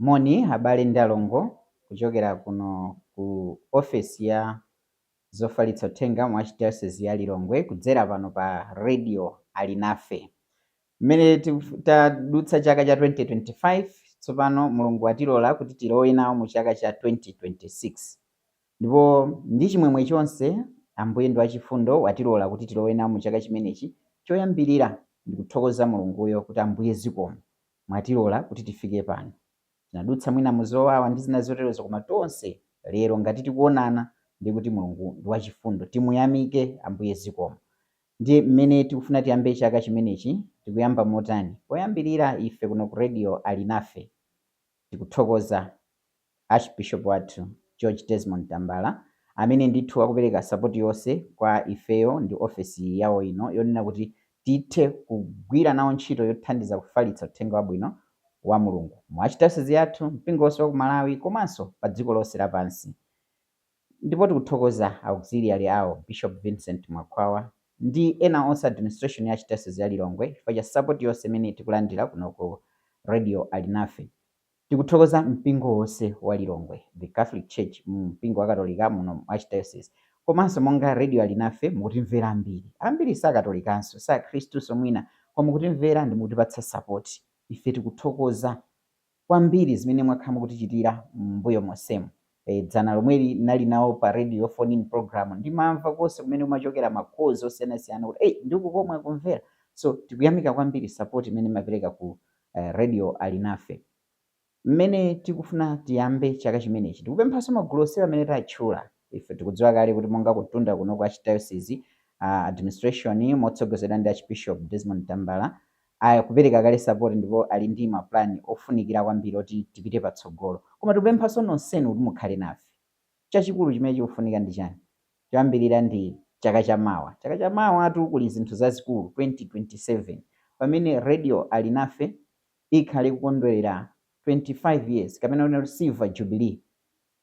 Moni abale ndi alongo kuchokera kuno ku ofesi ya zofalitsa uthenga mu Archdiocese ya Lilongwe kudzera pano pa Radio Alinafe. Mmene tadutsa chaka cha 2025 tsopano Mulungu watilola kuti tilowe nawo mu chaka cha 2026. Ndipo ndi chimwemwe chonse, Ambuye ndi wachifundo, watilola kuti tilowe nawo mu chaka chimenechi. Choyambirira, ndi kuthokoza Mulunguyo, kuti, Ambuye, zikomo, mwatilola kuti tifike pano. Tinadutsa mwina mu zowawa, ndi zina zoterozo, koma tonse lero, ngati tikuwonana, ndiye kuti Mulungu ndi wachifundo. Timuyamike Ambuye. Zikomo. Ndiye, mmene tikufuna tiyambe chaka chimenechi, tikuyamba motani? Poyambirira, ife kuno ku Radio Alinafe. Tikuthokoza. Archbishop wathu George Desmond Tambala amene ndithu akupereka sapoti yonse kwa ifeyo ndi ofesi yawo ino yonena kuti tithe kugwira nawo ntchito yothandiza kufalitsa uthenga wabwino wa Mulungu mu Archdayosizi yathu, mpingo wonse wa ku Malawi komanso pa dziko lonse lapansi. Ndipo tikuthokoza Auxiliary awo, Bishop Vincent Mwakhwawa ndi ena onse administration ya Archdayosizi ya Lilongwe chifukwa cha sapoti yonse imene tikulandira kuno ku Radio Alinafe. Tikuthokoza mpingo wonse wa Lilongwe, the Catholic Church, mpingo wakatolika muno mu Archdiocese komanso monga Radio Alinafe mukutimvera ambiri. Ambiri sakatolikanso, sakhristunso mwina koma mukutimvera ndi mukutipatsa support. Ife tikuthokoza kwambiri zimene mwakhala mukutichitira m'mbuyo monsemu. Eh, dzana lomweli nali nawo pa radio phone in program ndimamva konse kumene kumachokera ma calls osiyanasiyana kuti ei ndi uku komwe akumvera. So tikuyamika kwambiri support imene mmapereka ku eh, Radio Alinafe. Mmene tikufuna tiyambe chaka chimenechi, tikupemphanso magulu onsewa amene tatchula. Ife tikudziwa kale kuti monga kutunda kuno kwa Archdiocese uh, administration motsogozedwa ndi Archbishop Desmond Tambala akupereka kale support ndipo ali ndi mapulani ofunikira kwambiri oti tipite patsogolo, koma tikupemphanso nonsenu kuti mukhale nafe. Chachikulu chimene chikufunika ndi chani? choyambilira ndi chaka cha mawa chaka cha mawatu kuli zinthu zazikulu 2027 pamene radio alinafe ikhale ikukondwelera 25 years kapena kunena kuti silver jubilee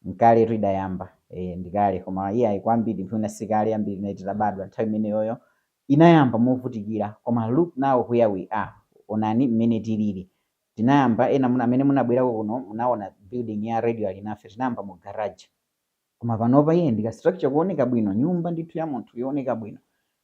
nkaletu idayamba ee ndikale koma iyayi kwa ambiri mwina sikale ambiri tinali titabadwa nthawi imeneyoyo inayamba movutikira koma look now where we are onani mmene tilili tinayamba ena mwina amene munabwerako kuno munaona building ya radio alinafe tinayamba mu garage Koma panopa iye ndi ka structure kooneka bwino, nyumba ndithu ya munthu yooneka bwino.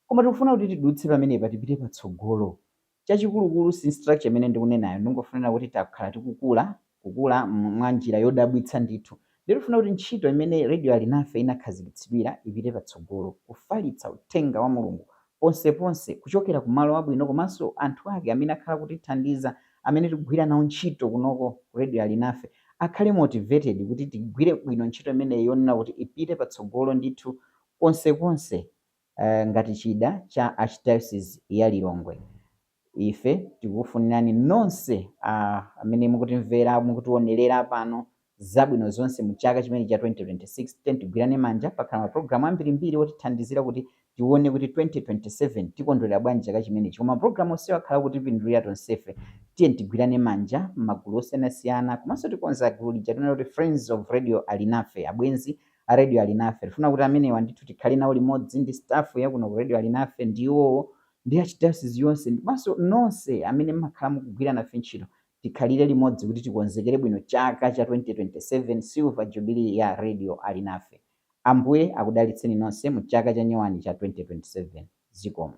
Koma tikufuna kuti tidutse pamenepa tipite patsogolo. Chachikulukulu si structure imene ndikunenayo, ndingofunira kuti takhala tikukula, kukula mwa njira yodabwitsa ndithu. Ndiye tikufuna kuti ntchito imene Radio Alinafe inakhazikitsidwira ipite patsogolo, kufalitsa uthenga wa Mulungu ponseponse kuchokera ku malo abwino komanso anthu ake amene akhala akutithandiza amene tikugwira nawo ntchito kunoko ku Radio Alinafe akhale motivated kuti tigwire bwino ntchito imeneyi yonena kuti ipite patsogolo ndithu konsekonse ngati chida cha Archdiocese ya Lilongwe. Ife tikufunirani nonse a, amene mukutimvera, mukutiwonerera pano, zabwino zonse mu chaka chimenechi cha 2026. Tiyeni tigwirane manja. Pakhala mapulogalamu ambirimbiri otithandizira kuti tiwone kuti 2027 tikondwerera bwanji chaka chimenechi. Koma mapulogalamu onsewa akhala akutipindulira tonsefe. Tiyeni tigwirane manja m'magulu osiyanasiyana. Komanso tikonza gulu lija timanena kuti Friends of Radio Alinafe, Abwenzi a Radio Alinafe. Tikufuna kuti amenewa ndithu tikhale nawo limodzi ndi staff ya kuno ku Radio Alinafe ndi iwowo ndi Archdiocese yonse ndiponso nonse amene mmakhala mukugwira nafe ntchito tikhalire limodzi kuti tikonzekere bwino chaka cha 2027 silver jubilee ya radio Alinafe. Ambuye akudalitseni nonse mu chaka cha nyowani cha 2027. Zikomo.